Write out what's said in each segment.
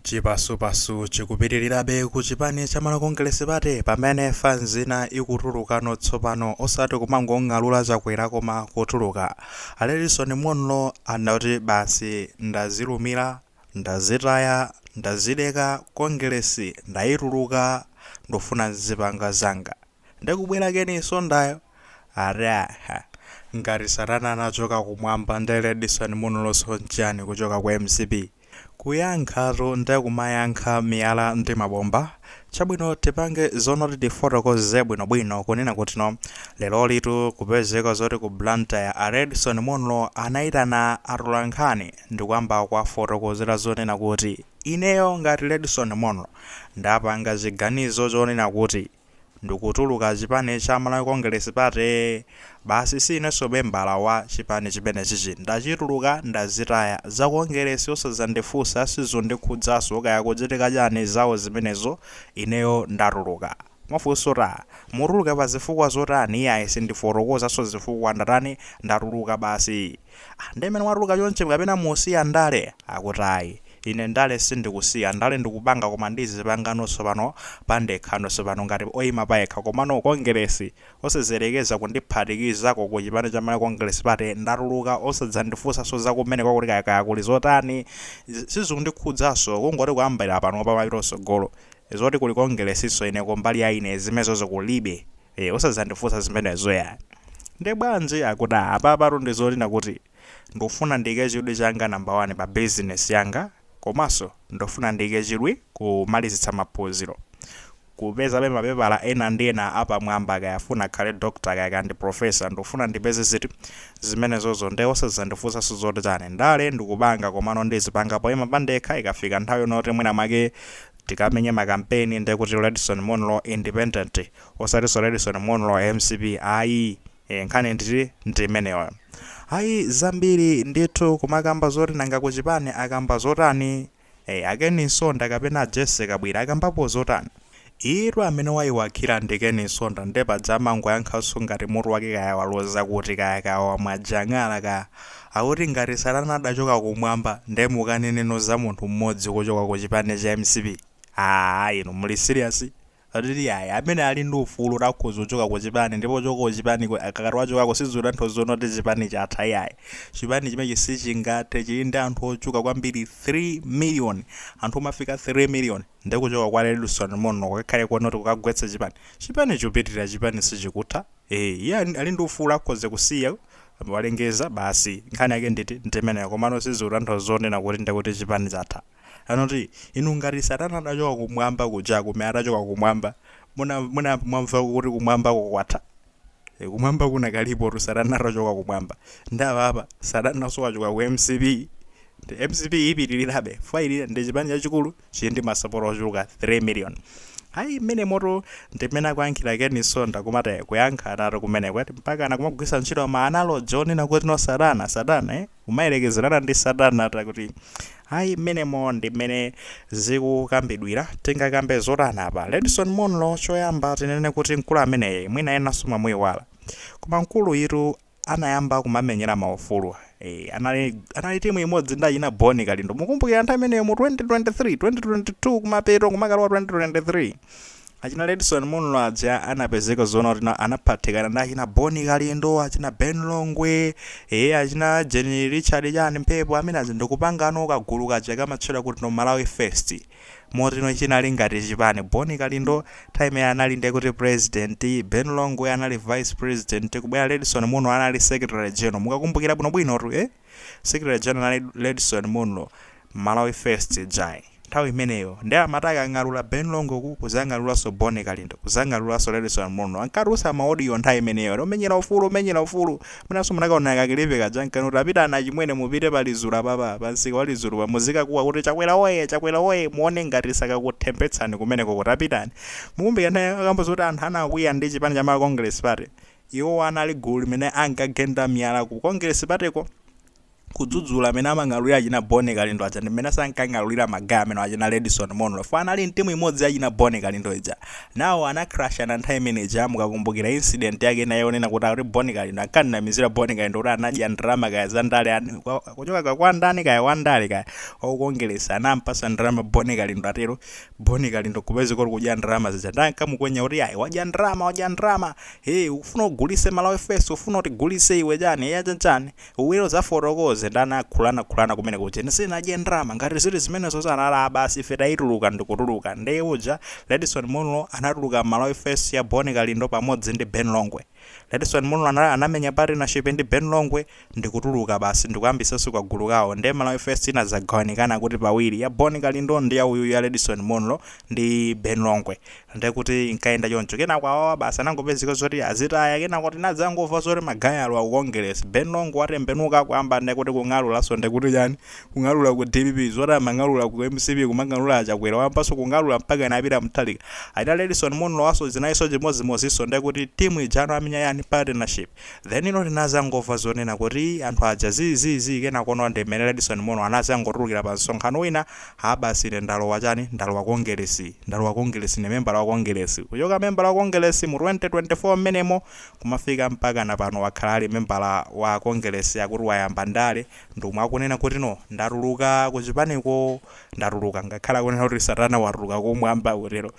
Chipasupasu chikupitilirabe ku chipani cha Malawi Congress Party pamene fanz ina ikutulukano tsopano osati kumangong'alura Chakwera koma kutuluka. A Redson Munlo anati basi ndazilumira, ndazitaya, ndazileka Kongeresi ndaituluka ndufuna nzipanga zanga. Ndikubwera Ken Msondayo ati aha ngati satana anachoka kumwamba nde Redson Munloso nchani kuchoka ku mcp kuyankhatu nde kumayankha miyala ndi mabomba chabwino tipange zonoti tifotokoze bwino bwino kunena kutino lerolitu kupezeka zoti ku Blantyre a Redson Munlo anaitana atolankhani ndikuyamba kuwafotokozera zonena kuti ineyo ngati Redson Munlo ndapanga chiganizo chonena kuti ndikutuluka chipani cha Malawi Congress Party basi siinenso membala wa chipani chimenechichi ndachituluka ndazitaya za Congress osazandifunsa sizundikhudzanso kaya kuchitika chani zawo zimenezo ineyo ndatuluka. Mafunso taa! Mutuluka pazifukwa zotani iyayi sindifotokozanso zifukwa ndatani ndatuluka basi. Ah, nde mmene mwatuluka chonchi kapena musiya ndale? Akuti ayi. Ine ndale sindikusiya, ndale ndikupanga koma ndizipangano tsopano pandekhano tsopano ngati oyima payekha komano Kongeresi osazayerekeza kundiphatikizako ku chipani cha Malawi Congress Party ndatuluka osadzandifunsanso za kumeneko kuti kaya kaya kuli zotani zi sizikundikhudzanso kungoti kuyambira panopa mapita kutsogolo zoti kuli Kongeresinso ine kumbali ya ine zimenezozo kulibe. ee osazandifusa zimenezo yayi nde bwanji akuti aa apapatu ndizonena kuti ndufuna ndike chidwi changa number 1 pa business yanga komaso ndufuna ndike chidwi kumalizitsa maphuziro kupezabe mapepala ena ndi ena apamwamba kaya afuna akhale doctor kaya kaya ndi professor ndufuna ndipeze zinthu zimenezozo nde osazandifusaso zoti chani ndale ndikupanga komano ndizipanga poyima pandekha ikafika nthawi yonoti mwina mwake tikamenye makampeni ndekuti Redson Munlo independent Osatinso Redson Munlo wa mcp ayi ee nkhani nditi ndi imeneyo ayi zambiri ndithu kumakamba zoti nanga ku chipani akamba zotani ee a Ken Msonda kapena a Jessie Kabwila akambapo zotani iyitu amene wayiwakhira ndi Ken Msonda nde paja amangoyankhanso ngati mutu wake kaya waloza kuti kaya kaya wamwa jang'ala kaya akuti ngati satana adachoka kumwamba nde mukaneneno za munthu mmodzi kuchoka ku chipani cha mcp aah inu muli serious? Ati iyayi, amene ali ndi ufulu oti akhoza kuchoka ku chipani ndipo kuchoka ku chipaniko akakati wachokako sizikutanthauza zonena kuti chipani chatha iyayi. Chipani chimenechi sichingathe, chili ndi anthu ochuluka kwambiri 3 million, anthu omafika 3 million, nde kuchoka kwa Redson Munlo kukakhale konoti kukagwetsa chipani? Chipani chupitilira, chipani sichikutha. Eeh, iye ali ali ndi ufulu akhoza kusiya, walengeza basi, nkhani yake nditi, ndimeneyo, komano sizikutanthauza zonena kuti ndekuti chipani chatha. Anati, Inu, ngati Satana atachoka Kumwamba kuja, kumene atachoka Kumwamba, muna, munayamba mwamvako kuti Kumwambako kwatha? E, Kumwamba kunakalipotu Satana atachoka Kumwamba. Nde apa apa, Satananso wachoka ku mcp. Nde mcp ipitirirabe, fwa ili ndi chipani chachikulu, chili ndi masapota ochuluka 3 million. Ayi, mmene motu ndi mmene akuyankhira Ken Nsonda akumati kuyankha kwake kumeneko, ati mpaka anakumagwiritsa ntchito ma analogy onena kuti no Satana, Satana, eh? kumayelekezelana ndi satana takuti ayi mmenemo ndi mmene zikukambidwila tingakambe zotani apa redson munlo choyamba tinene kuti mkulu ameneyu mwina enanso mwamuiwala koma mkuluyitu anayamba kumamenyera maufulu eh, anali, anali timu imodzi ndi achina boni kalindo mukumbukira nthawi imeneyo mu 2023 2022 kumapeto kumakalowa 2023 achina Redson Munlo aja anapezeka zoona kuti na- anaphatikana ndi achina Boni Kalindo achina Ben Longwe ee achina Jeni Richard chani mphepo amene aja ndikupangano kagulu kaja kamatchedwa kuti no Malawi First moti no chinali ngati chipani Boni Kalindo time ya anali ndi kuti president Ben Longwe anali vice president kubwera Redson Munlo anali secretary general mukakumbukira bwinobwino tu eh Secretary General Redson Munlo, Malawi First ijayi. Nthawi imeneyo nde amati akang'alula Ben Longwe kuzang'alulanso Bon Kalindo, kuzang'alulanso Redson Munlo. Ankatulutsa ma audio nthawi imeneyo ati omenyera ufulu, omenyera ufulu. Mwinanso munakaona ka clip kaja ankanena kuti tapitani achimwene mupite pa Lizulu apapa, pa msika wa Lizulupa muzikakuwa kuti Chakwera woye! Chakwera woye! Muone ngati sakakuthembetsani kumeneko kuti tapitani. Mukumbukira nthawi akamba zoti anthu anakwiya ndi chipani cha Malawi Congress Party? Iwowa anali gulu limene ankagenda miyala ku Congress party ko kudzudzula mene amang'alulira achina Boni Kalindo aja ndi menenso ankang'alulira ma guy amenewa achina Redson Munlo chifukwa anali mtimu imodzi ya achina Boni Kalindo ija. Nawo ana crushana nthawi imene ija mukakumbukira incident yake ina yonena kuti akuti Boni Kalindo ankamnamizira Boni Kalindo kuti anadya ndalama kaya za ndale and kuchoka kaya kwa ndani kaya wa ndale kaya wa ku Congress anampasa ndalama Boni Kalindo atero Boni Kalindo kupezeka kuti kudya ndalama zija nde ankamukwenya kuti ayi wadya ndalama wadya ndalama Hee ukufuna ugulise malawi first ufuna utigulise iwe chani eya chanichani ubwere uzafotokoze nde anakhulana khulana kumene kuja ine sindinadye ndrama ngati zili zimenezo sanalaa basi ife taituluka ndikutuluka nde uja redson munlo anatuluka mmalawi first ya boni kalindo pamodzi ndi ben longwe redson munlo anamenya partnership ndi ben longwe ndikutuluka basi ndikuyambisanso kagulu kawo nde Malawi First inadzagawanikana kuti pawiri ya Bon Kalindo ndi ya uyuyu ya Redson Munlo ndi Ben Longwe nde kuti inkaenda choncho kenako awawa basi anangopezeka zoti azitaya kenako tinadzangomva zoti ma guy alowa ku Kongeresi Ben Longwe watembenuka kuyamba nde kuti kung'alulanso nde kuti chani kung'alula ku dpp zoti amang'alula ku mcp kumang'alula a Chakwera wayambanso kung'alula mpaka anapita Mutharika achina Redson Munlo wanso zinalinso chimodzimodzinso nde kuti team ijano amenya chani partnership Then ino tinazangova zonena kuti anthu aja zii zii zii kenakono ndi mmene Edison Mono anazangotulukira pa msonkhano wina haa basi ine ndalowa chani ndalowa kongelesi ndalowa kongelesi ine membala wa kongelesi kuchoka membala wa kongelesi mu 2024 mmenemo kumafika mpakana pano wakhala ali membala wa kongelesi akuti wayamba ndale ndimo akunena kuti no ndatuluka kuchipaniko ndatuluka ngakhale akunena kuti satana waturuka kumwamba kutero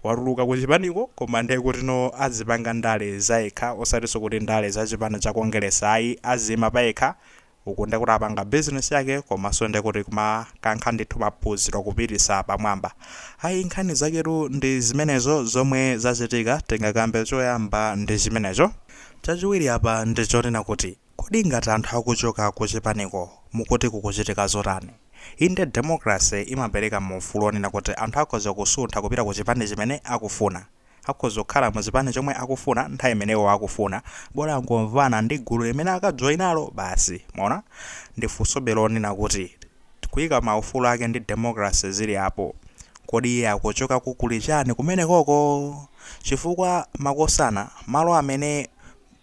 Watuluka ku chipaniko koma ndiye kuti no azipanga ndale zayekha osatinso kuti ndale za chipani cha Kongeresi ayi aziyima payekha uku ndiye kuti apanga business yake komanso ndiye kuti kumakankha ndithu maphunziro kupititsa pamwamba ayi nkhani zaketu ndi zimenezo zomwe zachitika tingakambe choyamba ndi chimenecho chachiwiri apa ndi chonena kuti Kodi ngati anthu akuchoka kuchipaniko, mukuti kukuchitika zotani? Inde democracy imapereka ma ufulu onena kuti anthu akhoza kusuntha kupita ku chipani chimene akufuna. Akhoza kukhala mu chipani chomwe akufuna nthawi imene iwo akufuna, bola angomvana ndi gulu limene akajoinalo basi. Mwaona? Nde funsobe lonena kuti kaya ma ufulu ake ndi democracy zili apo, kodi iye akuchokako kuli chani kumenekoko? Chifukwa makosana, malo amene.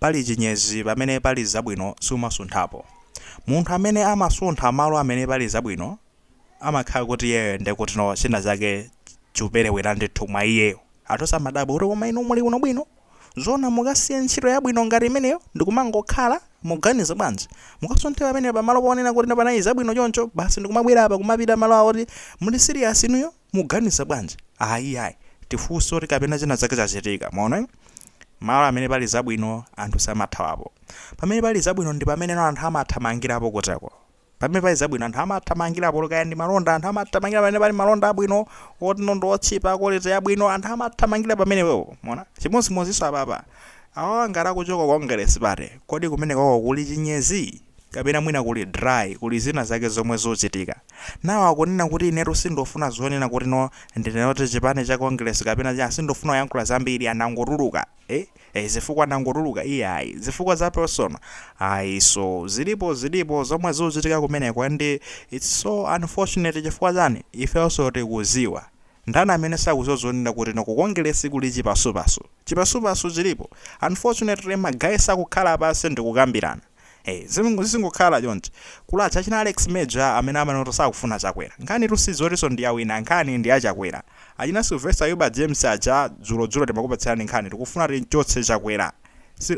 Pali chinyezi pamene pali zabwino sumasunthapo. Munthu amene amasuntha malo amene pali zabwino amakhala kuti iyeyo nde kuti no china chake chikupelewera ndithu mwa iyeyo. Anthu amadabwa kuti koma inu muli kuno bwino? Zoona mukasiye ntchito yabwino ngati imeneyo ndikumangokhala? Mukuganiza bwanji? Mukasunthe pamenepa malo ponena kuti panali zabwino choncho basi ndikumabwera apa kumapita malo awo kuti muli serious inuyo? Muganiza bwanji? Ayi, iyayi. Tifunse kuti kapena china chake chachitika. Mwaona eh? Malo amene pali zabwino anthu samathawapo. Pamene pali zabwino ndi pamene anthu amathamangirapo kuteroko. Pamene pali zabwino anthu amathamangirapo olo kaya ndi malonda anthu amathamangira pamene pali malonda abwino, otino ndi otchipa, quality yabwino anthu amathamangira pamenepo. Mwaona? Chimodzimodzinso apapa. Awawa ngati akuchoka ku Congress party, kodi kumenekoko kuli chinyezi? kapena mwina kuli dry kuli zina zake zomwe zuchitika nawo akunena kuti inetu sindufuna zonena kuti no ndinene zoti chipani cha Congress kapena cha sindufuna kuyankhula zambiri anangotuluka eh eh zifukwa ndangotuluka iyayi zifukwa za personal ayi so zilipo zilipo zomwe zuchitika kumeneko and it's so unfortunate chifukwa chani ifenso tikuziwa ndani amene sakuziwa zonena kuti no ku Congress kuli chipasupasu chipasupasu chilipo unfortunately ma guy sakukhala pansi ndikukambirana Zikungokhala choncho. Kuli achina Alex Major amene amanena kuti sakufuna Chakwera. Nkhanitu si zotinso ndi ya wina, nkhani ndi ya Chakwera. Achina Sylvester Ayuba James aja dzulodzulo timakupatsirani nkhani. Tikufuna tim'chotse Chakwera.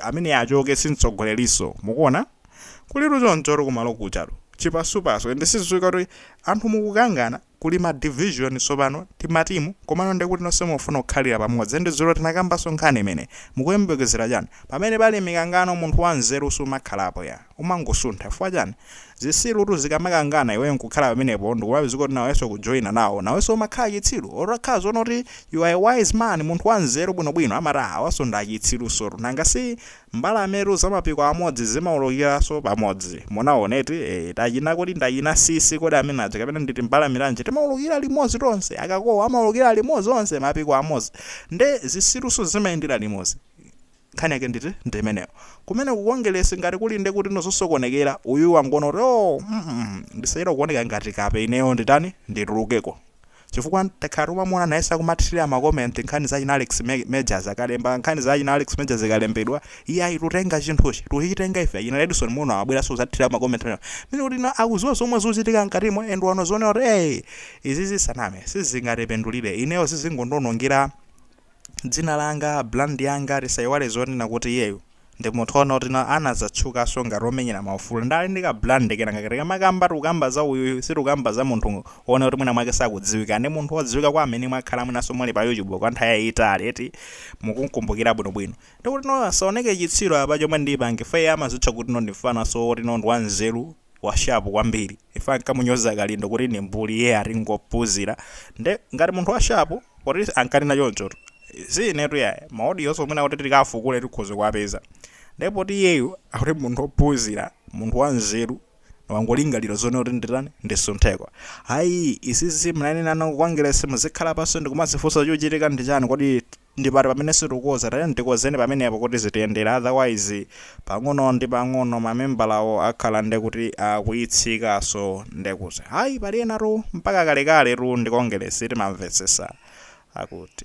Ameneyi achoke, si mtsogolerinso. Mukuona? Kulitu choncho kumalo kujatu. Chipasupasu. Ende sizikudziwika kuti anthu mukukangana. kuli ma division sopano timatimu komano ndekuti nonse mukufuna kukhalira pamodzi and dzulo tinakambaso nkhani imeneyi mukuyembekezera chani pamene pali mikangano munthu wanzeru sumakhalapo ya umangosuntha chifukwa chani zitsirutu zikamakangana iweyo nkukhala pamenepo ndikumapezeka kuti naweso ukujoina nawo naweso umakhala chitsiru otakhala zoona kuti you are a wise man munthu wanzeru bwinobwino amati awaso ndi achitsirusotu nanga si Mbalametu za mapiko amodzi zimaulukiraso pamodzi. Munaona eti? Eee, tachina kodi ndachina sisisi kodi amene aja kapena ndi timbalame tanji timaulukira limodzi tose, akakowa amaulukira limodzi onse mapiko amodzi. Nde zisiruso zimayendera limodzi. Nkhani yake nditi? Ndi imeneyo. Kumene ku Kongeresi ngati kuli nde kuti nzosokonekera, uyuyu wangoona kuti oh, mm ndisayerewo kuoneka ngati kape ineyo nditani? Nditulukeko. Chifukwa takhala tikumamuona nayeso akumathilira ma comment nkhani za achina Alex majors akalemba nkhani za achina Alex majors ikalembedwa iye ayi tutenga chinthuchi tuchitenga ife achina Redson muno amabweraso kuzathilira ma comment amenewa meaning kuti no akuziwa zomwe zuchitika mkatimo and wano zioneka kuti eyi izizi saname sizingatipindulire ineyo sizingondionongera dzina langa, brand yanga, tisaiwale zonena kuti iyeyu ndi munthu ona kuti na- anazatchukaso ngati omenyera maufulu ndale ndi ka brand kena kake tikamakamba tikukamba za uyuyu sitikukamba za munthu ona kuti mwina mwake sakudziwika ndi munthu odziwika kwa amene mwakhala mwinaso muli pa youtube kwa nthawi yayitali eti mukumkumbukira bwinobwino ndikuti ndisaoneke chitsiru apa chomwe ndipange nanga si amazitcha kuti no ndi mfanaso oti no ndi wanzeru washapu kwambiri Iye ankamunyoza kalindo kuti ndi mbuli iye ati ngophuzira nde ngati munthu wa shapu poti ankanena chonchotu si inetu yayi ma audioso mwina kuti tikafukule tikhoza kuwapeza nde poti iyeyu akuti munthu ophuzira munthu wa nzeru wangolingalira zonena kuti nditani ndisuntheko ayi izizi munanenano ku kongelesi muzikhala paso ndikumazifunsa chuchitika ndi chani kodi Ndi pati pamene sitikukoza? Tatiyeni tikozeni pamenepo kuti zitiyendere otherwise pang'ono ndi pang'ono ma membalawo akhala ndekuti akuitsika so ndekuti ayi pali enatu mpaka kalekale tu ndi Kongelesi timamvetsesa akuti.